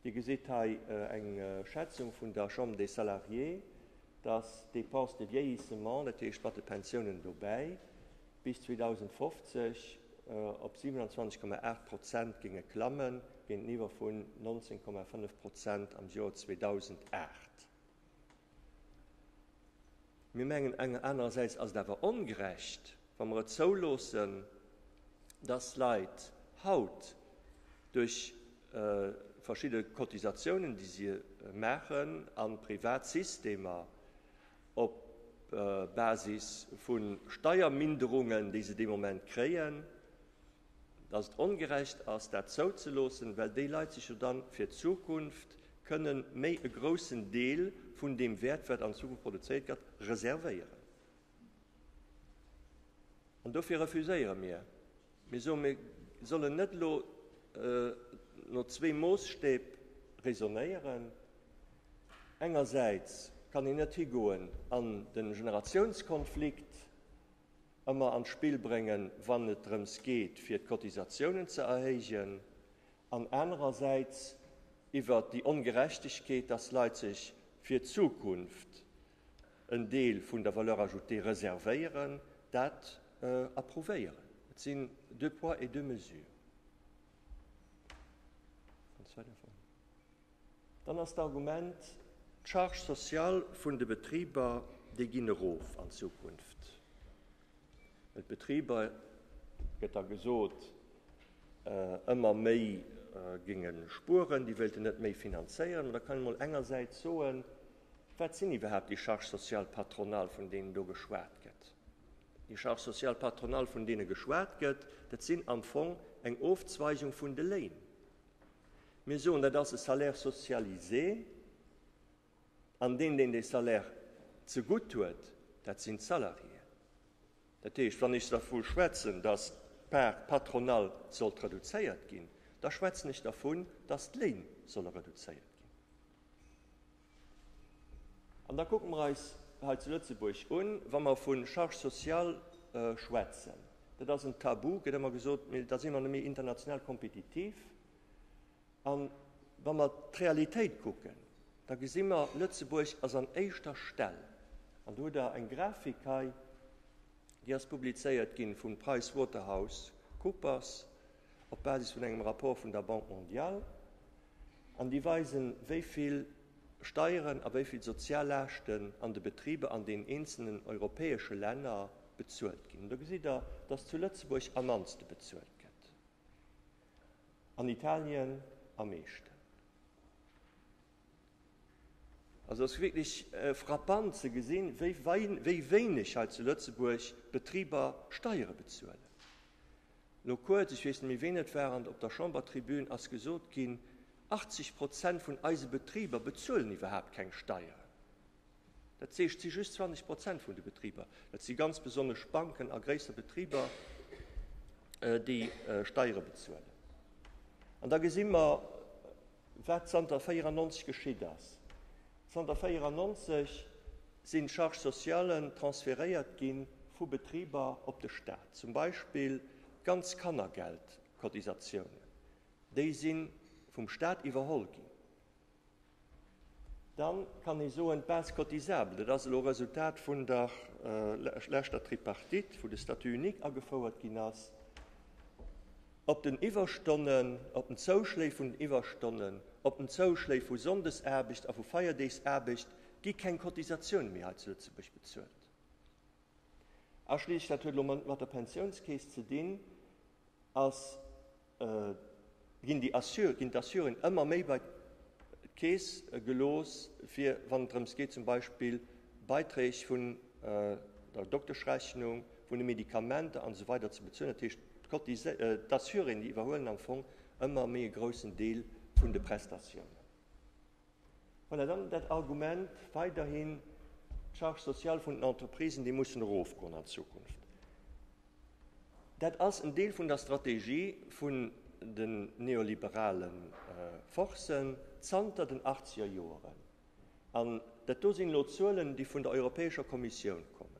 Dir gesitt hei eng Schätzung vun der Chambre des Salariés, dass d'Dépenses de vieillissement, dat heescht mat de Pensiounen dobäi, bis 2050 op 27,8 Prozent géinge klammen, géinteniwwer vun 19,5 Prozent am Joer 2008. Mir mengen enger anerersäits ass et awer ongerecht, wa mer et zouloossen, dass Leit haut duerch verschidde Cotisatiounen, déi si maachen, a privat Systemer op Basis vu Steierminderungen, déi se dee Moment kréien, dass et ongerecht ass, dat zouzeloossen, well déi Leit sech jo da fir d'Zukunft kënnen méi e groussen Deel vun deem Wäert, wat an Zukunft produzéiert gëtt, reservéieren. An dofir refuséiere mir. Mir soen, mir sollen net elo no zwee Moosstäb raisonnéieren. Engersäits kann een net higoen an de Generatiounskonflikt. ëmmer an d'Spill bréngen, wann et drëms geet, fir d'Cotisatiounen ze erhéijen, an anerersäits iwwert déi Ongerechtegkeet, dass Leit sech fir d'Zukunft en Deel vun der Valeur ajoutée reservéieren, dat approuvéieren. Et sinn deux poids et deux mesures. Dann ass d'Argument, d'Charge sociale vun de Betriber, déi ginn erof an Zukunft. Well d'Betriber, gëtt da gesot, ëmmer méi géinge spueren, déi wéilten net méi finanzéieren. Ma da kann een emol engersäits soen, Wat sinn iwwerhaapt déi Charges sociales patronales, vun deenen do geschwat gëtt? Déi Charges sociales patronales, vun deene geschwat gëtt, dat sinn am Fong eng Ofzweigung vun de Léin. Mir soen, dat ass e Salaire socialisé, an deen, deen dee Salaire zegutt huet, dat sinn d'Salariéen. Dat heescht, wann ech dervu schwätzen, dass d'Part patronale sollt reduzéiert ginn, da schwätzen ech dervun, dass d'Léin solle reduzéiert ginn. An da kucke mer eis hei zu Lëtzebuerg un, wa mer vu Charge sociale schwätzen, dat ass en Tabu, gëtt ëmmer gesot, mee da si mer net méi international kompetitiv. A wa mer d'Realitéit kucken, da gesi mer, Lëtzebuerg ass an éischter Stell, an do hutt Der eng Grafik hei, déi ass publizéiert gi vum Price Waterhouse Coopers, op Basis vun engem Rapport vun der Banque mondiale, an déi weisen, wéi vill Steieren a wéi vill Soziallaaschten an de Betriber an den eenzelen europäesche Länner bezuelt ginn. Do gesitt Der, dass zu Lëtzebuerg am mannste bezuelt gëtt, an Italien am meeschten. Also ass wierklech frappant ze gesinn, wéi wéineg hei zu Lëtzebuerg d'Betriber Steiere bezuelen. Elo kuerz, ech weess net méi ween et war, an op der Chambertribün ass gesot ginn, 80 Prozent vun eise Betriber bezuelen iwwerhaapt keng Steieren. Dat heescht, et si just 20 Prozent vun de Betriber, dat si ganz besonnesch Banken a gréisser Betriber, déi Steiere bezuelen. An da gesi mer, Wat zanter 94 geschitt ass, Zanter 94 sinn d'Charges socialen transferéiert gi vu Betriber op de Staat. Zum Beispill d'ganz Kannergeldcotisatiounen, déi si vum Staat iwwerholl ginn. Da kann ee soen, d'Base cotisable, dat ass elo e Resultat vun der leschter Tripartite, wou de Statut unique agefouert ginn ass. Op den Iwwerstonnen, op den Zouschléi vun den Iwwerstonnen, op den Zouschléi vu Sonndesaarbecht a vu Feierdeegsaarbecht gi keng Cotisatioune méi hei zu Lëtzebuerg bezuelt. A schliesslech, dat huet elo manner mat der Pensiounskeess ze dinn, ass, ginn déi Assur, ginn d'Assuren ëmmer méi bei d'Keess gelooss, fir wann et drëms geet zum Beispill Beiträg vun der Dokteschrechnung, vun de Medikamenter an esou weider ze bezuelen. Dat heescht, d'Assuréen, déi iwwerhuelen am Fong ëmmer méi e groussen Deel vun de Prestatiounen. Voilà, dann dat Argument weiderhin, d'Charge sociale vun den Entreprisen, déi mussen erofgoen an Zukunft. Dat ass en Deel vun der Strategie vun den neoliberale Forcen zanter den achtzeger Joeren. An dat do sinn elo Zuelen, déi vun der Europäescher Kommissioun kommen.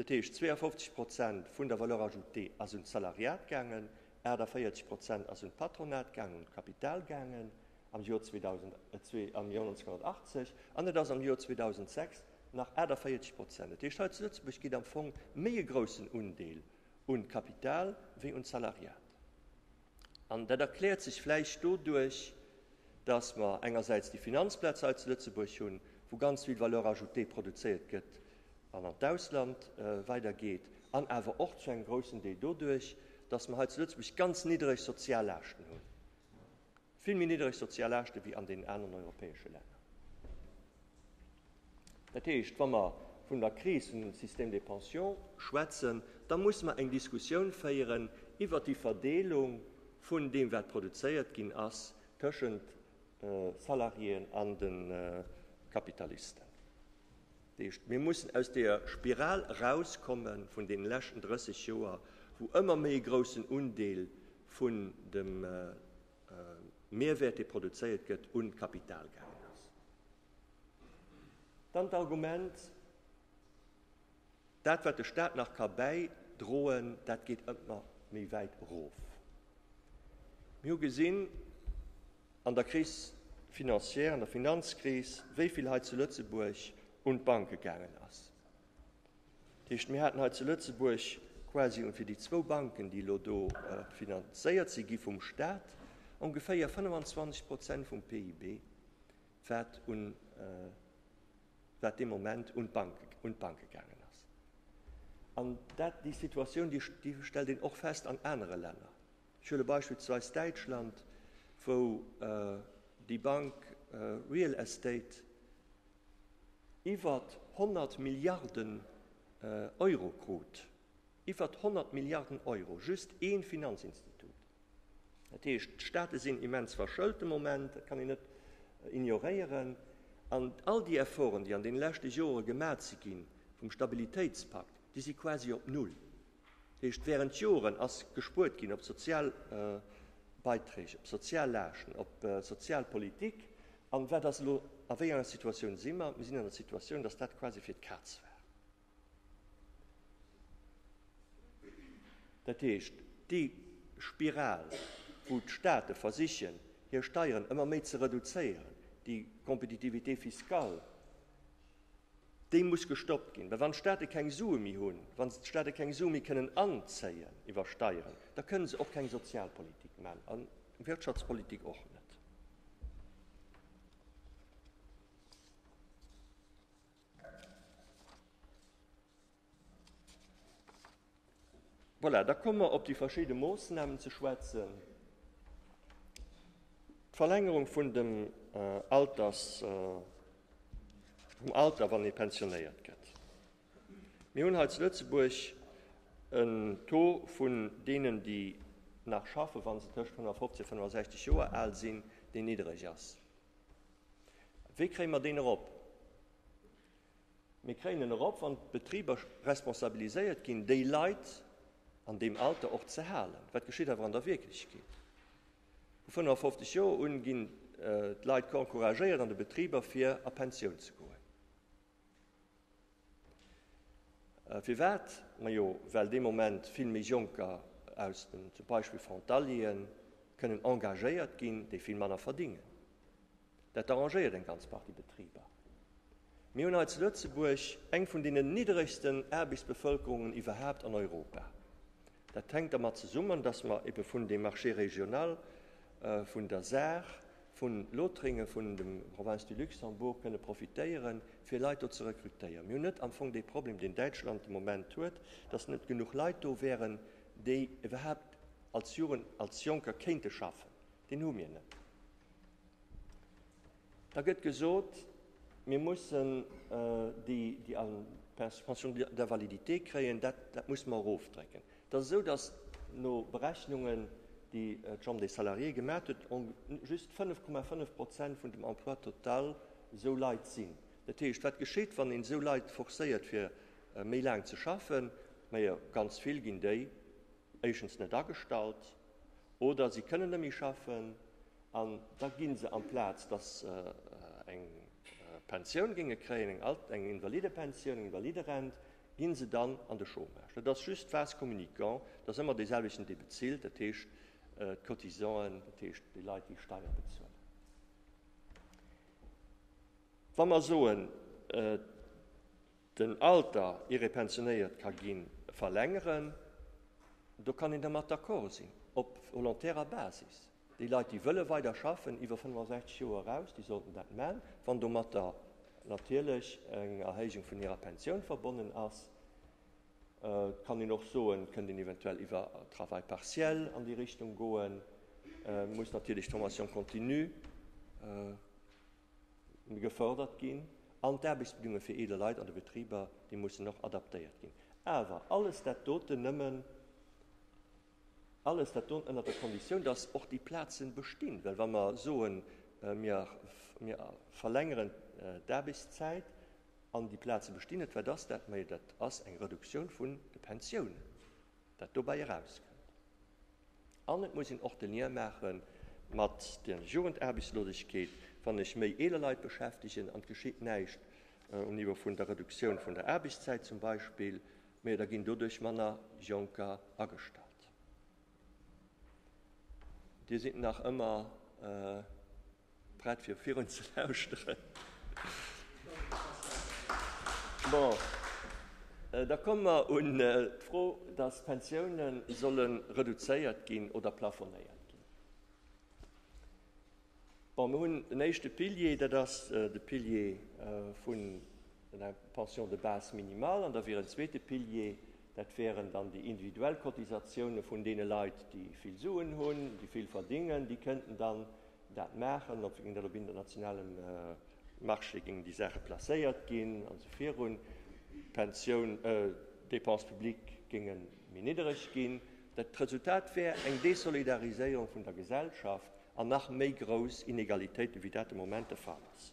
Dat heescht, 52 Prozent vun der Valeur ajoutée ass un d'Salariat gaangen, 48 Prozent ass un d'Patronat gaangen, un d'Kapital gaangen am Joer 2000, am Joer 1980, an et ass am Joer 2006 nach 48 Prozent. Dat heescht, hei zu Lëtzebuerg geet am Fong méi e groussen Undeel un d'Kapital wéi un d'Salariat. An dat erkläert sech vläicht doduerch, dass mer engersäits déi Finanzplaz hei zu Lëtzebuerg hunn, wou ganz vill Valeur ajoutée produzéiert gëtt an an d'Ausland weidergeet, an awer och zu engem groussen Deel doduerch, dass mer hei zu Lëtzebuerg ganz niddereg Soziallaaschten hunn, vill méi niddereg Soziallaaschte wéi an deenen aneren europäesche Länner. Dat heescht, wa mer vun der Kris vun dem Système des pensions schwätzen, da musse mer eng Diskussioun féieren iwwert déi Verdeelung vun deem, wat produzéiert ginn ass, tëschent Salariéen an de Kapitalisten. Dat heescht, mir mussen aus deeër Spiral erauskomme vun deene leschten 30 Joer, wou ëmmer méi e groussen Undeel vun dem Mehrwert, dee produzéiert gëtt, un d'Kapital gaangen ass. Dann d'Argument, dat wat de Staat nach ka bäidroen, dat geet ëmmer méi wäit erof. Mir hu gesinn an der Crise financière, an der Finanzkris, wéi vill hei zu Lëtzebuerg un d'Banke gaangen ass. Dat heescht, mir haten hei zu Lëtzebuerg quasi, un fir déi zwou Banken, déi elo do finanzéiert si gi vum Staat, ongeféier 25 Prozent vum PIB. wat un wat dee Moment un d'Bank un d'Banke gaangen ass. An dat déi Situatioun déi déi stellt een och fest an anere Länner. Ech huele beispillsweis Däitschland, wou déi Bank Real Estate iwwert 100 Milliarden Euro krut. Iwwert 100 Milliarden Euro, just ee Finanzinstitut. Dat heescht, d'Staate sinn immens verschëlt de Moment, dat kann een net ignoréieren. An all déi Efforten, déi an deene leschte Jore gemat si gi vum Stabilitéitspakt, déi si quasi op Null. Dat heescht, während Joren ass gespuert ginn op Sozialbeiträg, op Soziallaaschten, op Sozialpolitik. An wat ass elo? A wéi enger Situatioun si mer? Mir sinn an der Situatioun, datt dat quasi fir d'Kaz war. Dat heescht, déi Spiral, wou d'State versichen, hir Steieren ëmmer méi ze reduzéieren, déi Compétitivité fiscale, déi muss gestoppt ginn. Well wann d'State keng Sue méi hunn, wa d'State keng Sue méi kënnen anzéien iwwer Steieren, da kënne se och keng Sozialpolitik maachen a Wirtschaftspolitik och net. Voilà, da komme mer op déi verschiedene Moosnamen ze schwätzen. D'Verlängerung vun dem äh, Alters äh, vum Alter, wann e pensionéiert gëtt. Mir hunn hei zu Lëtzebuerg en Taux vun denen, déi nach schaffen, wann se tëscht 150 a 65 Joer al sinn, dee niddreg ass. Wéi kréie mer deen erop? Mir kréien en erop, wann d'Betriber responsabiliséiert ginn, déi Leit an deem Alter och ze halen. Wat geschitt awer an der Wierklechkeet? Vu 55 Joer un ginn d'Leit encouragéiert an de Betriber, fir a Pensioun ze goen. Firwat? Majo well dee Moment vill méi Jonker aus den zum Beispill Frontalieren kënnen engagéiert ginn, déi vill manner verdingen. Dat arrangéiert eng ganz Partie Betriber. Mir hunn hei zu Lëtzebuerg eng vun deenen nidderegsten Aarbechtsbevëlkerungen iwwerhaapt an Europa. Dat hänkt dermat zesummen, datt mer ebe vun deem Marché régional, vun der Saach, vu Lothringen, vun dem Province du Luxembourg kënne profitéieren, fir Leit do ze rekrutéieren. Mir hunn net am Fong dee Problem, deen Däitschland de Moment huet, dass net genuch Leit do wäeren, déi iwwerhaupt als Jugend, als Jonker kéinte schaffen. Deen hu mir net. Da gëtt gesot, mir mussen déi, déi eng Pension d'invalidité kréien, dat muss mer erofdrécken. Et ass esou, datt no Berechnungen, déi d'Chambre des Salariés gemaat huet, just 5,5 Prozent vun dem Emploi total esou Leit sinn. Dat heescht, wat geschéit, wann een esou Leit forcéiert, fir méi laang ze schaffen? Majo, ganz vill ginn déi éischens net agestallt oder si kënnen net méi schaffen an da gi se, amplaz datt se eng Pensioun géinge kréien, eng Invalidepensioun, eng Invaliderent, ginn se dann an de Chômage. Dat ass just vase communicant, et ass ëmmer deeselwechten, dee bezilt, dat heescht d'Cotisanten, dat heescht déi Leit, déi Steier bezuelen. Wa mer soen, den Alter, ier ee pensionéiert ka ginn, verlängeren, do kann een dermat d'accord sinn, op volontärer Basis. Déi Leit, déi wëlle weider schaffen, iwwer 65 Joer eraus, déi sollten dat man, wann domatter natierlech eng Erhéijung vun hirer Pensioun verbonnen ass. Et kann een och soen, et kënnt een eventuell iwwer Travail partiel an déi Richtung goen. Et muss natierlech d'Formation continue gefördert ginn an d'Aarbechtsbedingungen fir eeler Leit an de Betriber, déi mussen och adaptéiert ginn. Awer alles dat doten nëmmen. Alles dat do ënnert der Konditioun, datt och déi Plaze bestinn. Well wa mer soen, mir verlängeren d'Aarbechtszäit an déi Plaze bestinn net, wat ass dat méi? Dat ass eng Reduktioun vun de Pensiounen, dat dobäi erauskënnt. An et muss een och de Lien maache mat der Jugendarbechtslosegkeet. Wann ech méi eeler Leit beschäftegen an et geschitt näischt um Niveau vun der Reduktioun vun der Aarbechtszäit zum Beispill, Mee da ginn doduerch manner Jonker agestallt. Dir sidd nach ëmmer prett fir virun ze lauschteren? Bon, da komme mer un d'Fro, datt d'Pensiounen solle reduzéiert ginn oder plafonéiert ginn. Bon, mir hunn den éischte Pilier, dat ass de Pilier vun der Pension de base minimale an da wier en zweete Pilier, dat wäeren dann déi individuell Cotisatiounen vun deene Leit, déi vill Suen hunn, déi vill verdingen, déi kënnten dann dat maachen. Op géing dat op internationalem Marché géingen déi Saache placéiert ginn an esou virun. D'Pensioun, d'Dépenses publiques géinge méi niddereg ginn. D'Resultat wär eng Desolidariséierung vun der Gesellschaft an nach méi grouss Inegalitéiten, wéi dat de Moment de Fall ass.